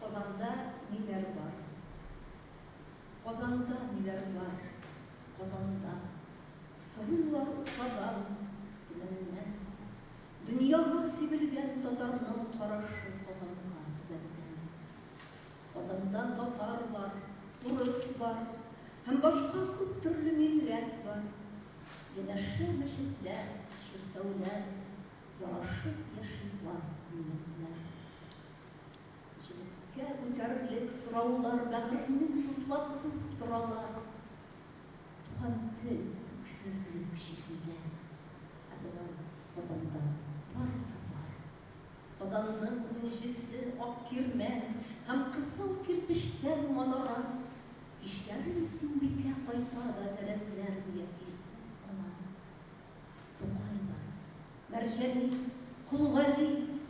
Казанда ниләр бар? Казанда ниләр бар? Казанда. Сорыйлар уфадан, Төмәннән. Дөньяга сибелгән татарның карашы Казанга, Төмәннән. Казанда татар бар, урыс бар һәм башка күп төрле милләт бар. Янәшә мәчетләр, чиркәүләр, ярашып яши бар милләтләр. Җегеткә үтәрлек сораулар бәгырьне сызлатып торалар. Туган тел, үксезлек чигелгән. Ә болар Казанда бар да бар. Казанның унҗисе ак кирмән һәм кызыл кирпечтән манара. Кичләрен Сөмбикә кайта да тәрәзләр буяп килеп туктала. Тукайлар, Мәрҗани, Кол Гали,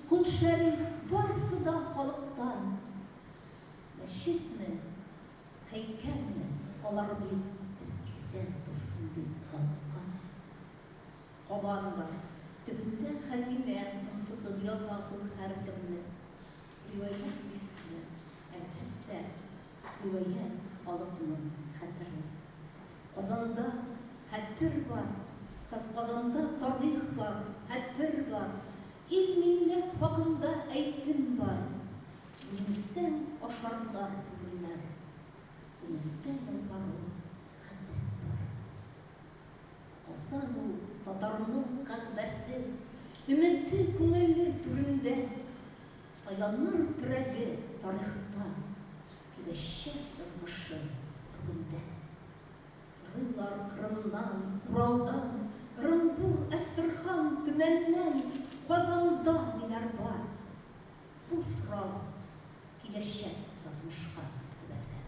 Кол Шәриф, барысы да халыктан. Мәчетме, һәйкәлме, алар бит без исән булсын дип калыккан. Кабан бар, төбендә хәзинә кымсытып ята ул һәркемне. Риваять дисезме? Әлбәттә. Гүя халык моны хәтерли. Казанда хәтер бар, Казанда тарих бар, хәтер бар, ил-милләт хакында әйтем бар. Менсәң, ашарлар бүреләр. Күңелдә ялвару хәтер бар. Казан ул татарның кәгъбәсе, өмете күңелле түрендә. Каяннар терәге тарихында, киләчәк язмышы бүгендә. Сорыйлар Кырымнан, Уралдан, Ырынбур, Әстерхан, Төмәннән, Казанда ниләр бар? Бу сорау киләчәк язмышка төбәлгән.